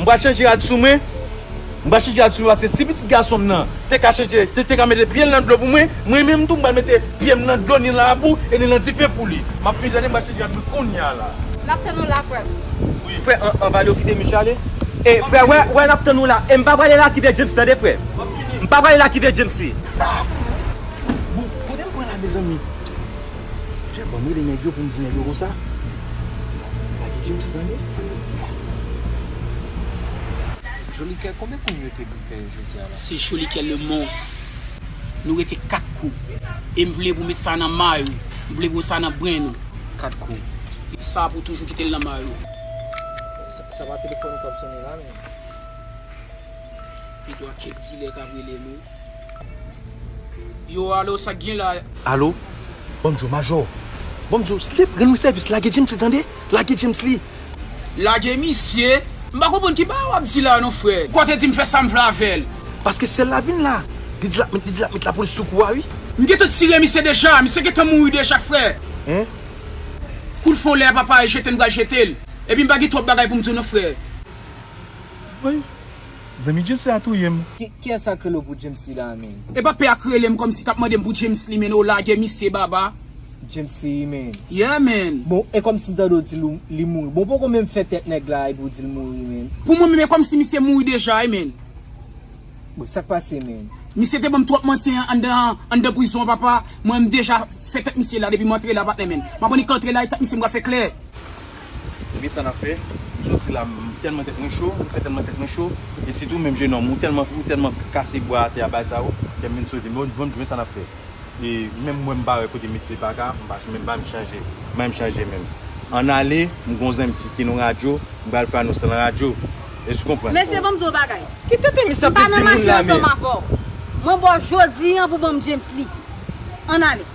M pral chanje rad sou mwen M pral chanje rad sou mwen paske si pitit gason m nan te ka chanje te ka mete pye l nan dlo pou mwen mwen menm tou m pral mete pye m nan dlo ni nan labou e ni nan dife pou li m ap fini tande m pral chanje rad mwen kounya la. N ap tann ou la frè m. Frè an va yo kite misye ale e frè wè wè n ap tann ou la e m pa prale la kite James tande frè m pa prale la kite James. Bon kote m pran la mezanmi Jè banm rele nèg yo poum di nèg yo konsa Nan pa gen James tande Nan. Jolikè konbyen kou mete pou fè jodia la. Se jolikè le mons. Nou rete 4 kou. E m vle pou met sa nan may ou. M vle pou met sa nan brenn ou. 4 kou. Sa pou toujou kite l nan may ou. Sa pa telefòn ou kap sone la menm. Pito a kèk dilè kap rele nou. Yo alo sak gen la. Alo banm diw majò. Banm diw slip rann mwen sèvis lage James li tande lage James li. Lage misye m pa konprann ki bagay wap di la non frè. Kò te dim fè sam vle avèl. Paske sèl la vin la li di lap met li di lap met la polis sou kou a wi. M gentan tire misye deja misye gentan mouri deja frè. Hein. Koul fon lè papa e jete m pral jetel. Epi m pa gen twòp bagay pou m diw non frè. Woy. Zanmi Djemsy a touyem. Kiyes sak rele w pou Djemsy la menn. Epa pè a k relem kòmsi kap mandem pou Djemsly menn oh lagè misye baba. Djemsy menn. Yeah menn. Bon e kòmsi m tande w di li mouri bon w poko menm fè tèt nèg la epi w di l mouri menn. Pou mwen menm e kòmsi misye mouri deja wi menn. Bon sak pase menn. Misye te banm twòp manti anndan prizon an papa mwen m deja fè tèt misye la depi m antre la patnè menn m aprann li k antre la e tèt misye m pral fè klè. ou gen sa nap fè m soti la m tèlman tèt mwen cho m fè tèlman tèt mwen cho e sitou menm jenòm ou tèlman ou tèlman kase bwa atè a bay sa yo kèm vin soti m bon m sa nap fè e menm mwen m pa wè kote met pye paka m pa menm pa m chanje bay m chanje menm ann ale m gon zen m ki ki nan radyo m bal fè anons lan radyo èske ou konprann Mesye banm di w bagay Ki tenten misye ap vin di moun la men. M pa nan mache ansanm avè w. Mwen ba w jodi an pou w ban m James li. Ann ale.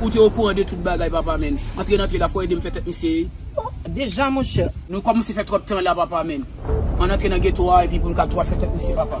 Ou te okouran de tout bagay papa menn. Antre nan tele la fò edem fè tèt misye ye. Deja monchè. Nou kòmnse fè twòp tan la papa menn. Ann antre nan geto a epi poun ka tou al fè tèt misye papa.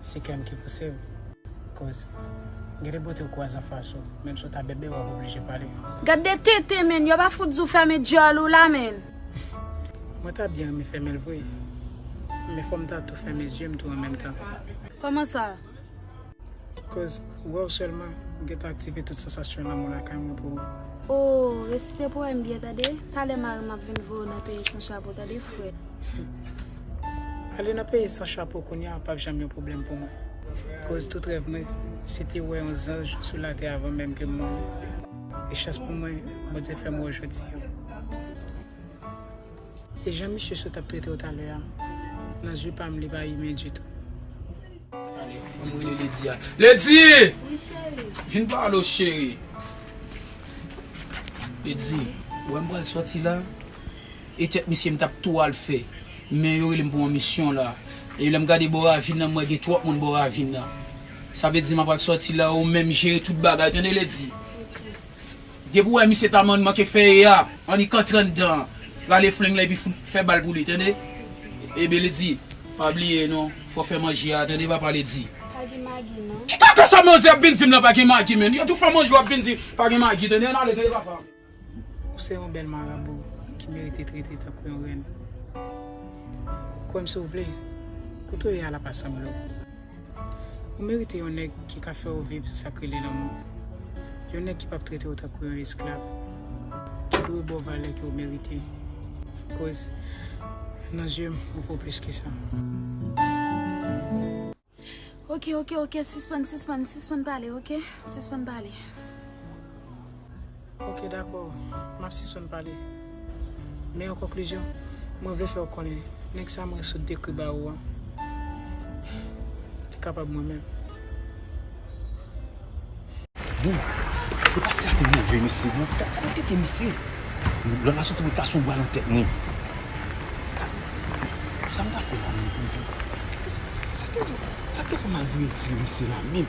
Se kèm ki pousew koz gen de bote ou kwaze anfas ou menm si ou ta bèbè wap oblije pale. Gad de tenten menn yo pa fout di w fèmen dyòl ou la menn. Mwen ta byen renmen fèmen l vre men fòm ta tou fèmen zye m tou an menm tan. Kòman sa? Koz wè w sèlman ou gentan aktive tout sansasyon lanmou lakay mwen pou ou. Oh resite powèm byen tande. Talè mari m ap vin voye w nan peyi san chapo tande frè. Ale nan peyi san chapo kounye a pap janm yon pwoblèm pou mwen. Koz tout rèv mwen se te wè yon zanj sou latè avan menm ke m mouri. E chans pou mwen, Bondye fè m wè w jodi an. E jan misye sot ap trete w talè a, nan zye pa m li pa imen ditou. Ale, an m rele Ledi a. Ledi! Wi cheri. Vin pale w cheri. Ledi, ou wè m pral soti la? e tèt misye m tap tou al fè men yo rele m pou yon misyon la e lèm gade bò ravin nan m wè gen twòp moun bò ravin nan sa vle di m apral sòti la ou menm jere tout bagay tande le di depi ou wè misye ta manke fè e a annik antre anndan rale flinng la epi fout fè bal pou li tande ebyen le di pa bliye non fò fè manje a tande papa le di. Ki kaka sa manzè ap vin di m la pa gen magi menn yo tou fè manje wap vin di pa gen magi tande ann ale tande papa. Ou se yon bèl marabou ki merite trete tankou yon rèn. Kwè m si w vle, kote w ye a l ap asanble w. Ou merite yon nèg ki ka fè w viv sa k rele lanmou. Yon nèg ki p ap trete w tankou yon esklav. Ki dwe ba w valè ke w merite. Koz nan zye m ou vo plis ke sa. Ok ok ok sispann sispann sispann pale ok sispann pale. Ok dakò map sispann pale men an konklizyon mwen vle fè ou konnen nèg sa mwen sot dekri ba ou an li kapab mwen menm. Bon e pa sa te move mesye bon ki ta ka nan tete misye lòt la soti pou l kase yon bwa nan tèt mwen bon sa m ta fè la menm pou m sa k te fè sa k te fè m al vire tire misye la menm.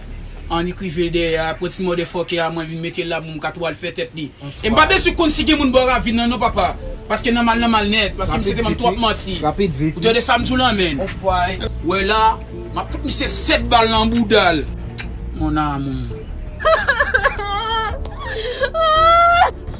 An li k rive l dèyè a aprè ti motherfucker a mwen vin mete l la pou m ka tou al fè tèt li e m pa bezwen konn si gen moun bò ravin nan non papa paske nan mal nan mal nèt paske misye te banm twòp manti ou tande sa m di w la menn wè la m ap fout misye 7 bal nan bouda l mon amour.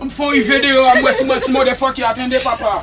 M fon ri vye deyò a m wè si mwen ti motherfucker a tande papa.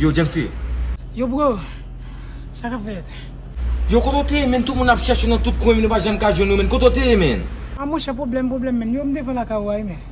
Yo Jamesy! Yo bro! Sa kap fèt? Yo kote w te ye menn tout moun ap chèche w nan tout kwen men nou pa janm ka jwenn ou menn kote w te ye menn? Ah monchè pwoblèm pwoblèm menn yo m devan lakay ou a wi menn.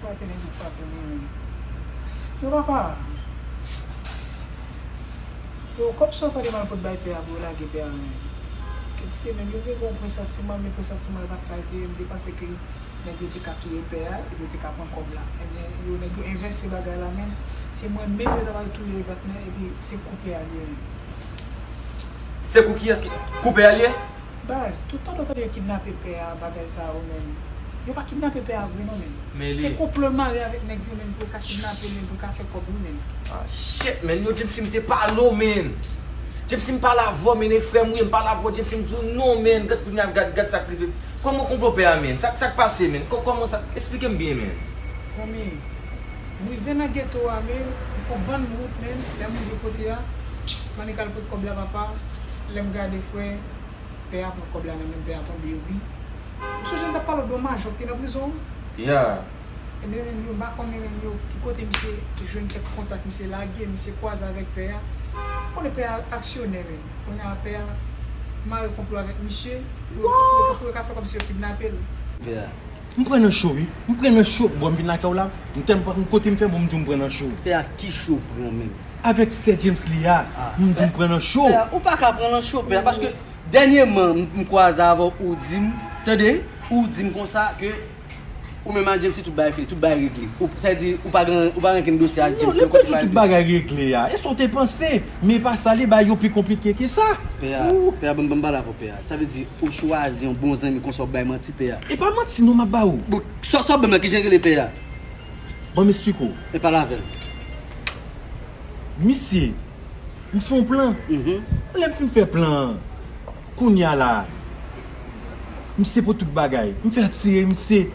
Frape nèg yo frape mwen menm. Yo pa pa. Yo kòm si yo tande mal pot bay pè a pou yo lage pè a menm. Kèdiste menm yo gen bon presantiman men presantiman yo pat sa yo te ye. Yo te panse ke nèg yo te ka touye pè a epi yo te ka pran kòb la. Ebyen yo nèg yo envèse bagay la menm. Se mwen menm yo ta pral touye patnè epi se kou pè a li ye menm. Se kou kiyès ki. Kou pè a li ye? Baz, tout tan nou tande yo kidnape pè a bagay sa yo menm. Yo pa kidnape pè a vre non menn. Se konplo yo mare avèk nèg yo menm pou yo ka kidnape l menm pou yo ka fè kòb wi menn. Ah shit menn yo Djepsy m te pa lo menn Djepsy m pa la avèw menn e frèm wi m pa la avèw Djepsy m di w non menn gad kounya gad gad sak rive kòman konplo pè a menn sak sak pase menn kòman sa esplike m byen menn. Zanmi. M rive nan geto a men m fon bann wout menn lèm rive kote a m annik al pot kòb la papa lèm gade frè pè a pran kòb la nan menm pè a tonbe ri m sonje m tap pale w de yon majò ki te nan prizon wi yeah ebyen menm yo m pa konnen menm yo ki kote misye jwenn kèk kontak misye lage misye kwaze avèk pè a m konnen pè a aksyonè menm kounye a pè a mare konplo avèk misye pou yo ka fè kòmsi yo kidnape l. M pran nan cho wi. M pran nan cho bro m vin lakay w la m tèlman pa konn kote m fè bon m di w m pran nan cho. Pè a ki cho w pran menm? Avèk sè James li a m di w m pran nan cho. Pè a ou paka pran nan cho pè a paske dènyeman m kwaze avè w ou di m tande ou di m konsa ke ou menm a James tout bagay fini tout bagay regle ou sa vle di ou pa gen ou pa rankin dosye ak James non kote tout bagay regle a e sa w te panse men e pa sa li bagay yo pi konplike ke sa. Pè a banm pale avè w pè a. Sa vle di ou chwazi yon bon zanmi konsa wap bay manti pè a. Epa manti non map ba ou. Bon sa wap banm la kijan rele pè a. Banm esplike w. Mwen pale avèl. Misye m fon plan lèm fin fè plan an kounya la misye pran tout bagay m fè atire misye.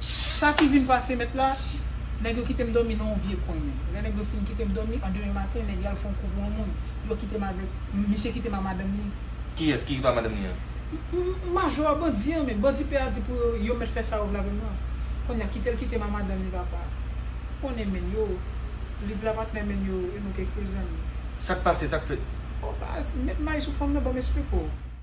Sa ki vin pase mèt la, nèg yo kite m dòmi nan yon vye kwen men. Lè nèg yo fin kite m dòmi, an demen maten, nèg yo al fè yon kou pou yon moun. Yo kite m avèk, misye kite m a madanm ni. Kiyès ki pa madanm ni an? Majò a, bandi an men. Bandi pè a di pou yo, yo mèt fè sa yo vle avè m lan. Konnya kite l kite m a madanm ni papa. Ou konnen men yo, li vle ap atnè men yo e nou kèk yo zanmi. Sa k pase, sa k fèt? Bon baz, met may sou fanm nan ban m espliko.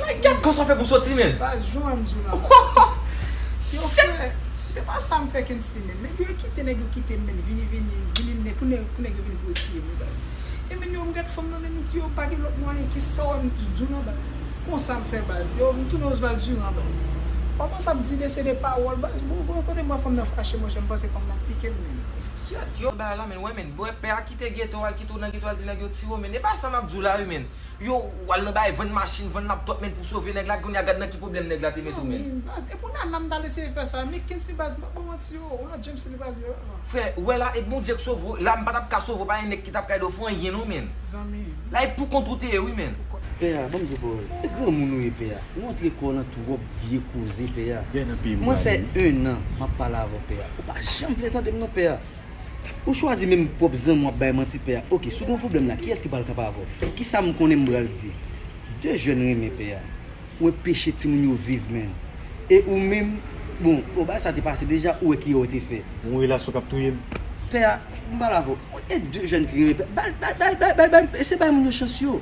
Like gad kòman sa fè pou soti men. Baz jou an jou la baz. Yo fè si se pa sa m fè Kensly menm. Nèg yo e kite nèg yo kite m menm vini vini vini nen pou nèg pou nèg yo vini pou yo tiye m wi baz. E menn yo m gad fanm nan menm m di yo pa gen lòt mwayen ki sa w wè m di jou la baz. Konsa m fè baz. Yo m tounen Osval Durand baz. Kòmanse ap di de se de pawòl baz bon bon kote m wè fanm nan fache monchè m panse fanm nan ap pike m menm. Gyèt yon bagay la menn wè menn. Wè pè a kite geto al kite w nan geto al di nèg yo tiye w menn. E pa sa m ap di w la wi menn. Yo wal nan bagay vann machin vann laptop men pou sove nèg la kounya gad nan ki pwoblèm nèg la te mete w menn. Zanmim baz epou nana m tal eseye fè sa ui kinsey baz map baw manti oo ou nan James li pral ye la. Frè, ou wè la, e Bondye k sove w, la m pa tap ka sove w, pa gen nèg ki tap ka ede w fè anyen non menn. Zanmim. La e pou kont ou te ye wi menn. Pè a, banm di w pawòl. E granmoun ou ye pè a. Ou antre kò w nan twòp vye koze pè a. Mwen fè 1 an map pale avè w pè a. Ou pa janm vle tande m non pè a. Ou chwazi menm pwòp zanmi w ap bay manti pè a ok si w gen yon pwoblèm la kiyès ki pral kanpe avè w ki sa m konnen m bral di 2 jèn renmen pè a ou wè peche timoun yo viv menn e ou menm bon bon bagay sa te pase deja ou wè ki erè w te fè. Yon relasyon k ap touye m. Pè a m pral avè w e 2 jèn ki renmen pè a bay bay bay bay bay eseye bay moun yo chans yo.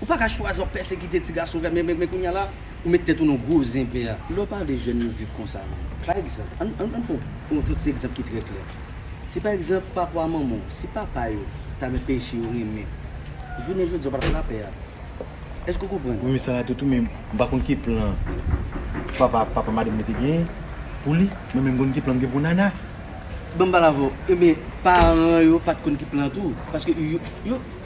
Ou pa ka chwazi wap pèsekite ti gason kay men kounya la ou met tèt ou nan gwo zen pè a. Lè w pa vle jèn yo viv konsa non. Pa egzanp, ann ann pran yon ti egzanp ki trè klè. Si pa egzanp papa a manman w, si papa yo ta gen peche yo renmen, jounen jodi a w pa tap lapè a. Èske w konprann? Wi men sa la tou tou men m pa konn ki plan papa papa madanm nan te gen pou li men men m konn ki plan m gen pou Nana. Ban m pale avè w, men paran yo pat konn ki plan tou paske yo.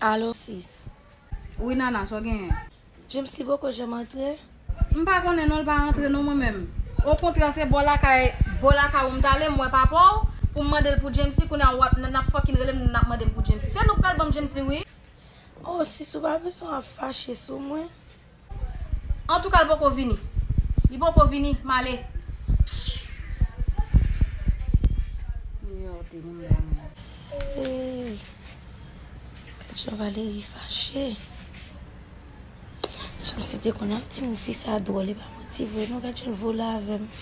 Alo sis. Wi nana sa w genyen. James li poko janm antre? M pa konnen non l pa antre non mwen menm. Okontrè se bò lakay bò lakay ou m t ale m wè papa w pou m mande l pou Jamesy kounye a wap nan nap fòkin rele m nap mande m pou Jamesy. Se nou k pral ban m Jamesy wi. Oh sis ou pa bezwen ap fache sou mwen. Antouka l poko vini. Li poko vini, m ale. Eeyy Gad jan Valery fache Janm site konn ap di m fi sa dwòl e pa manti vre non gad jan l vole avèm.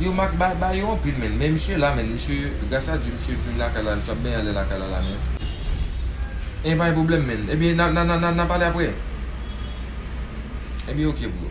Yo max bay bay yo anpil menn men misye la menn misye gras a Dieu misye vin lakay la misye ap benyen ale lakay la la menn en pa gen problem menn ebyen na na na na pale aprè ebyen ok bro.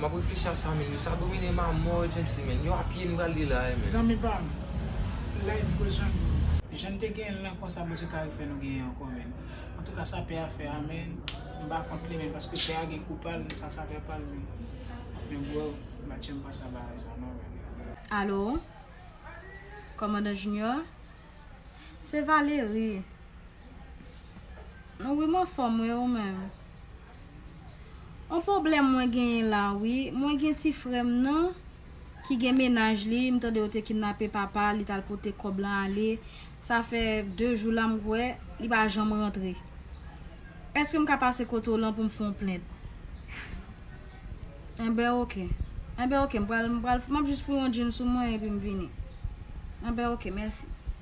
Map reflechi a sa menn yo sa domine m a mò Jamesly menn yo apye n pral li la a menn. Zanmi pam life goes on bro. Jan n te genyen l lan konsa Bondye ka refè nou genyen ankò menn antouka sa pè a fè a menn m pa kont li menn paske pè a gen kou pa l men sa sa pè pa l menn men bro m pa t janm panse a bagay sa non menn. Alo Kòmandan Junior Se Valerie Wi m anfòm wi ou menm? On poblèm mwen genyen la wi mwen gen ti frèm nan ki gen menaj li m tande yo te kidnape papa li tal pote kòb lan ale sa fè 2 jou la m kwè li pa janm rantre èske m ka pase kote w lan pou m fon plent enben ok enben ok m pral m ap jis foun yon djinn sou mwen epi m vini enben ok mèsi.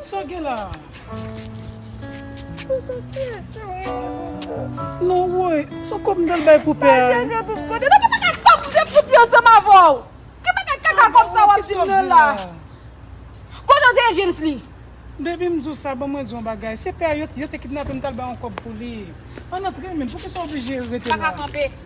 Sa w gen la a? Non woy, s on kòb m t al bay pou pè a. Baby m di w sa, ban mwen di w yon bagay. Se pè a, yo te kidnape m, m t al bay yon kòb pou li. Ann antre men, poukisa w oblije rete la?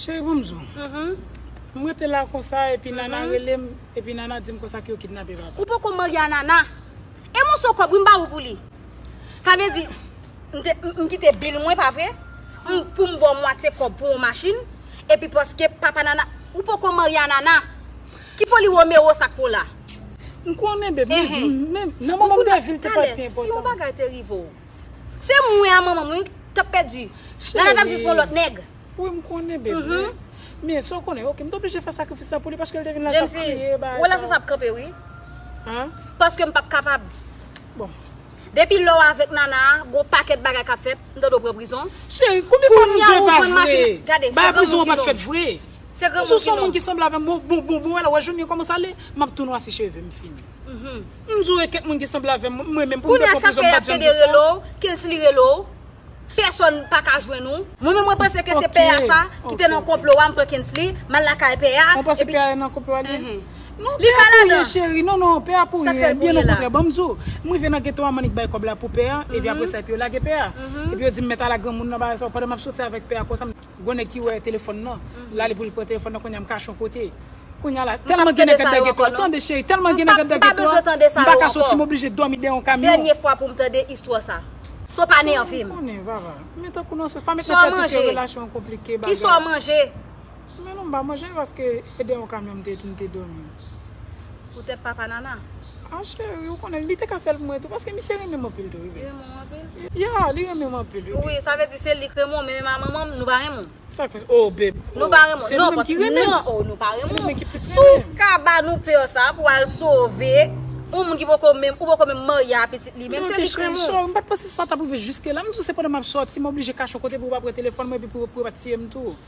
Cheri banm zo. M rete la konsa epi Nana relem epi Nana dim konsa ke yo kidnape papa. Ou poko marye a Nana. E moso kob wi m ba ou pou li. Sa vle di m kite bil mwen pa vre? Pou m ba w mwatye kob pou yon machin epi paske papa Nana ou poko marye a Nana. Ki foli Romero sa pou w la? M konnen beb men nan moman m te viv li te pa t pi enpotan. Talè si yon bagay te rive w. Se mwen a manman mwen ki tap pèdi. Nana tap jis pran lòt nèg. Wi m konnen bebe. Men eske w konnen ok m t oblije fè sakrifis la pou li paske l te vin la tap kriye bagay sa yo. Jennifer, relasyon sa ap kanpe wi. Paske m pap kapab. Bon. Depi lè w avèk Nana a, gon pakèt bagay kap fèt, m ta dwe pran prizon. Cheri, konbyen fwa nou di l pa vre? Gade, se granmoun ki nonm. Se granmoun ki nonm. Ou son moun ki sanble avè m, bon bon bon bon wè la wè jounen kòmanse ale, m ap tou nwasi cheve m fini. M jure kek moun ki sanble avem m renmen pou m te pran prizon m pat janm di sa. Kelsly rele w pèsòn pa ka jwenn ou. Mwen menm mwen panse ke se pè a sa ki te nan konplo a m pran kensly m al lakay pè a. Ou panse pè a nan konplo a li ye? Non pè a pou ye cheri non non pè a pou ye byen o kontrè banm di w m rive nan geto a m annik bay kòb la pou pè a epi apresa epi yo lage pè a epi yo di m mèt ala granmoun nan bagay sa yo pandan m ap soti avèk pè a konsa m Gon nèg ki wè telefòn nan la li poul pran telefòn nan kounya m kache yon kote kounya la tèlman gen nèg kap dège to tande cheri tèlman gen nèg kap dège to m paka soti m oblije dòmi dèyè yon kamyon m konnen vava men tankou nan sèl pa met nan tèt ou ke relasyon an konplike bagay men non m pa manje paske e dèyè yon kamyon m te dòmi. Pou tèt papa nana. Ah cheri ou konnen li te ka fèl pou mwen tou paske misye renmen m anpil tou wi baby. Li renmen w anpil? Yeah li renmen m anpil wi baby. Wi sa vle di se li k renmen w men menm a manman m nou pa renmen w. Sak fè sa oh baby oh. Nou pa renmen w. Se nou menm ki renmen l. Non oh nou pa renmen w. Se nou menm ki plis renmen l. Si w ka ba nou peur sa pou al sove yon moun ki poko menm ou poko menm marye a pitit li menm se li k renmen w. Ok cheri sorry m pat panse sa tap rive jiske la m di w se pandan map sòti m oblije kache yon kote pou yo pa pran telefòn mwen epi pou yo pa tiye m tou.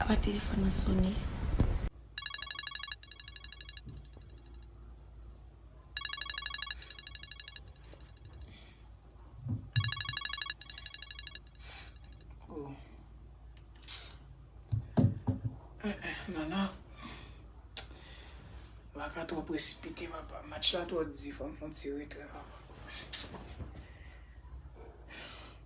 Apa telefòn nan sone. Nana. Baka twò presipite papa. Match la twò di fòm fon ti retrè papa.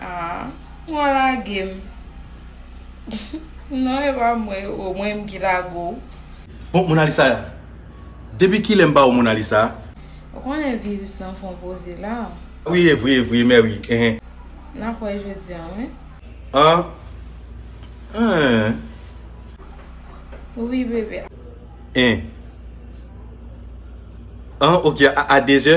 Aah ou lage m non epa mwen oh mwen m ki lage w. Bon monalisa ya depi kilè m ba ou monalisa. Ou konnen virus lan fon poze la. Wi evre evre mè wi eh. Nap wè jodi an wi. Anh eeh. Wi bebe. Anh ok a 2 zè.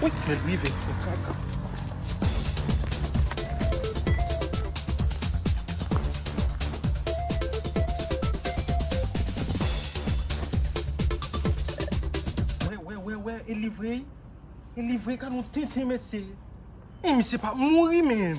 Wouyy men rive mwen kaka. Wewewewee e li vre wi e li vre gadon tenten mesye. Misye pa mouri menm.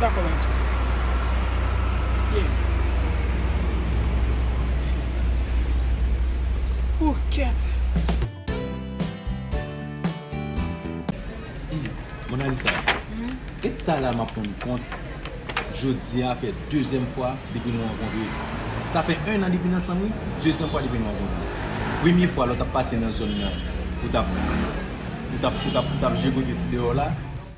Dakò mwen sou. Pye. Ooh kèt. Monalisa, e talè m ap rann kont jodi a fè dezyèm fwa depi nou rankontre. Sa fè 1 an depi n ansanm wi, dezyèm fwa depi nou rankontre. Premye fwa lè w t ap pase nan zòn nan, ou t ap, ou t ap, ou t ap, ou t ap jigote ti deyò w la.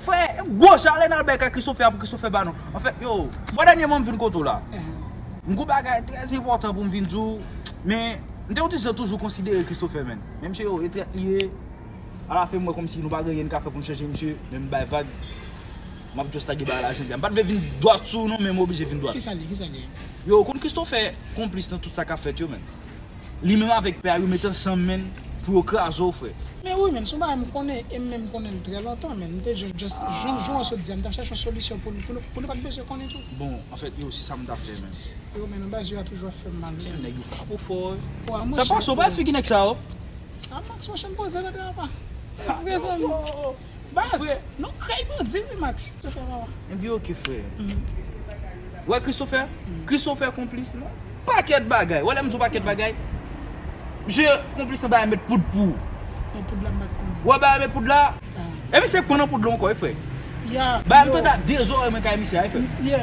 Fè gwo jale nal bay kay Christopher a pou Christopher ba nou. Anfen yo, mwen dènyèman m vin kote w la. M gon bagay trè enpòtan pou m vin di w, men m te yon ti jan toujou konsidere Christopher menn. Men msye yo, e trèt li ye. Alafen m wè kòmsi nou pa gen anyen n ka fè pou n chanje msye, men m bay vag. M ap just lage bagay la jan l ye a. M pa t vle vin dwat sou w non men m oblije vin dwat. Kisa l ye? Kisa l ye? Yo, ou konn Christopher konplis nan tout sa k ap fèt yo menn. Li menm avek pè a yo met ansanm menn pou yo kraze w frè. Men wi menn son bagay m konnen em menm m konnenl trè lontan menn m te just just jan jou an sot di a m tap chache yon solisyon pou nou pou nou pat bezwen konnen tou. Bon anfèt yo se sam tap fè menm. Yo menn anba zye a toujou ap fèm mal wi menn. Tiens nèg yo frap ou fò wi. Wa monchè. Sa pase w pa wè figi nèg sa yo. A Max monchè m poze kote apa. Evre zanmi. Baz Nou krèy bandi wi Max. Christopher wawa. Ebyen ok frè. Wè Christopher? Christopher konplis nan pakèt bagay. Wè lèm diw pakèt bagay? Misye konplis nan bagay met poud pou. Nan poud la m pat konnen. Wè bagay met poud la? E misye k pran nan poud la ankò wi frè. Bagay m tande a 2 zòrèy mwen kay misye a wi frè.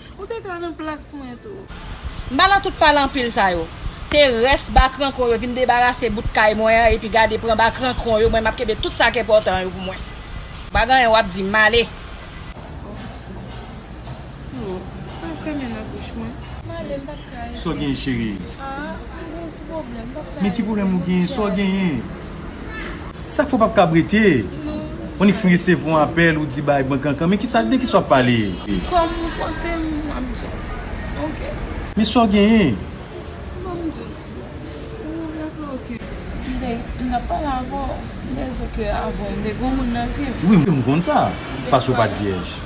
Ou te ka nan plas mwen tou. M pa nan tout pale anpil sa yo. Se rès ba krankon yo vin debarase bout kay mwen an epi gade pran ba krankon yo mwen m ap kenbe tout sa k enpòtan yo pou mwen. M pa gen anyen w ap di m ale. Ou pa fèmen nan bouch mwen. M ale m pa. Sa w genyen cherie? Men ki pwoblèm ou genyen? Sa w genyen? Sa k fè w pap kab rete? On e fin resevwa yon apèl ou di bay bon kankan men kisa de kisa w ap pale? Men sa w genyen? Wi m konn sa paske w pat vyèj.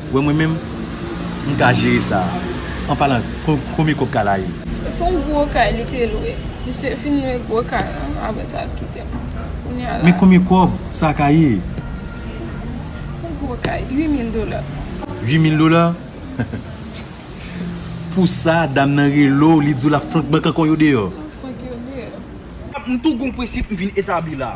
Wè mwen menm m ka jere sa an palan konbyen kob ka la ye. Se ton gwo kay li te lwe. Misye fin lwe gwo kay lan apre sa l kite m. Kounya la. Men konbyen kob sa ka ye? Yon gwo kay, 8000 dola. 8000 dola? Pou sa dam nan rele w li di w l ap flank bank ankò yo deyò? L ap flank yo deyò. M tou gen yon prensip m vin etabli la.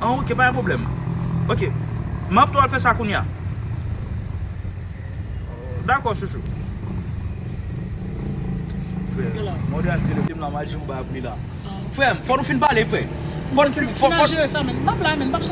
An ok pa gen problem Ok map tou al fè sa kounya Dakò chouchou Frèm fò nou fin pale frè Fò nou fin pale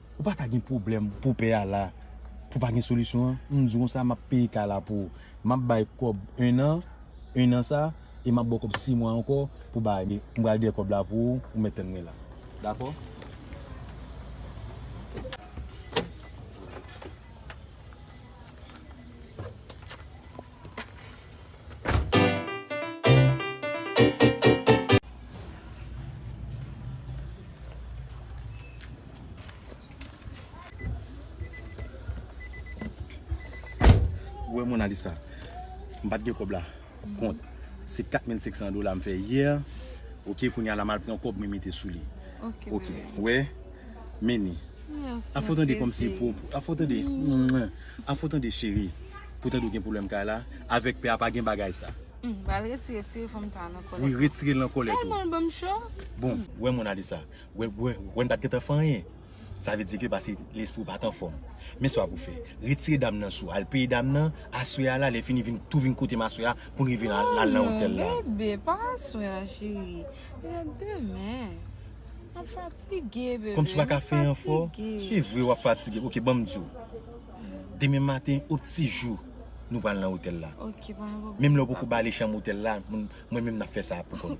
Ou pa ka gen pwoblèm pou pè a la pou pa gen solisyon an, m di w konsa map peye kay la pou ou. Map bay kòb 1 an, 1 an sa e map ba w kòb 6 mwa ankò pou bay li. M pral dèyè kòb la pou ou, ou mèt tann mwen la. Dakò? Ou wè Mona Lisa, m pat gen kòb la kont, se 4500 dola m fè yè, ok, kounya la m al pran kòb mwen mete sou li, ok, ou wè. Meni. An fo tande komsi pou an fo tande an fo tande cheri pou tande ou gen pwoblèm kay la avèk pè a pa gen bagay sa. Bal resi retire fanm sa nan kòlèt. Wi retire l nan kòlèt ou. Tèlman l banm cho. Bon wè Monalisa wè wè m pat gentan fè anyen sa vle di ke pase lespri w pat anfòm men sa w pou fè retire dam nan sou al peye dam nan aswè a la lè fini vin tou vin kote m aswè a pou n rive nan al nan otèl la. Bebe pa aswè a cheri se demen. Kòmsi w pa ka fè enfò e vre w ap fatige ok banm di w demen maten o ti jou nou pral nan otèl la menm lè w poko bale chanm otèl la mwen menm n ap fè sa pou kò nou.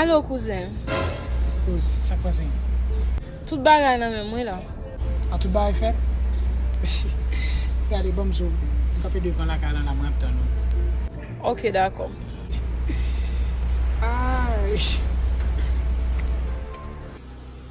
Alo kouzen. Kouz, sa k pase? Tout bagay nan men mwen la. Ah tout bagay fèt? Gade banm zo, m kanpe devan lakay lan la mwen ap tann ou. Ok dakò. Aayy.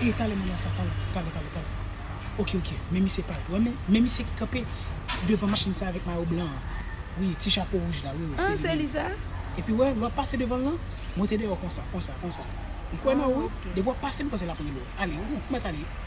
Ey tale moun nan sa tale tale tale tale ok ok men misye pal wè men men misye ki kanpe devan machin sa avèk mayo blan an wi ti chapo wouj la wi wi se li menm an se li sa epi wè lè wap pase devanl lan mete deyò konsa konsa konsa m kwè nan ou wi depi wap pase m panse lap rele w ale ou mèt ale.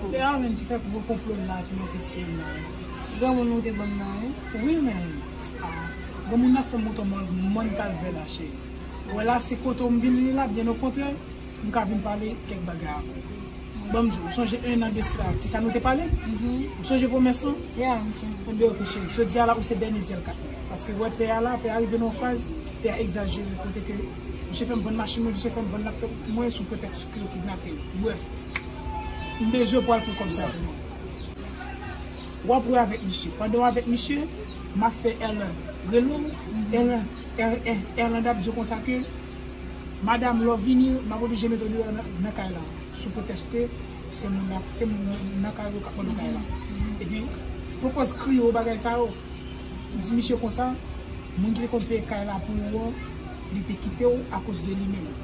Kote Arline ki fè gro konplo l la ki monte ti M nan. Ti granmoun nou te banm nan wi. Wi men ah granmoun nan ap fè mouton mòn kalvè la cheri ou wè la se kote w m vin li la byen okontrè m ka vin pale kèk bagay avè w bon m di w ou sonje 1 an de sila kisa nou te pale ou sonje pwomès lan enben ok cheri jodi a la ou se dènye zyè l kap ouvri paske wè pè a la pè a rive nan yon faz pè a egzajere kote ke misye fè m vann machin mwen misye fè m vann laptop mwen sou pretèks. Ke yo kidnape l. Bref. M bezwen pou al pran kòb sa pou mwen. Wap wè avèk misye. Pandan w avèk misye, map fè Erland rele w. Erland, Erland ap di w konsa ke, Madam, lè w vini, map oblije mete w deyò nan kay la. Sou pretèsk ke se moun la, se moun nan kay ou yo kap mande w kay la. Epi, pou kòz kri yo, bagay sa yo, di misye konsa, moun ki te konn peye kay la pou ou an, li te kite w akoz de li menm.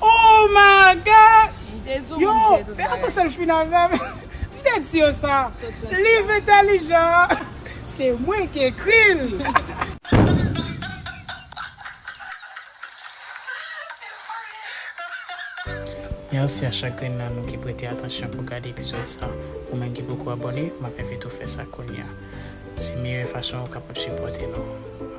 Oh my God! Yo, pe a konsel fin avèm. M te di yo sa. Liv entèlijan an, se mwen ki ekri l. Merci a chak grenn nan nou ki prete atansyon pou gade epizod sa. Ou menm ki poko abone, map envite w fè sa kounya. Se meyè fason ou kapab sipòte nou.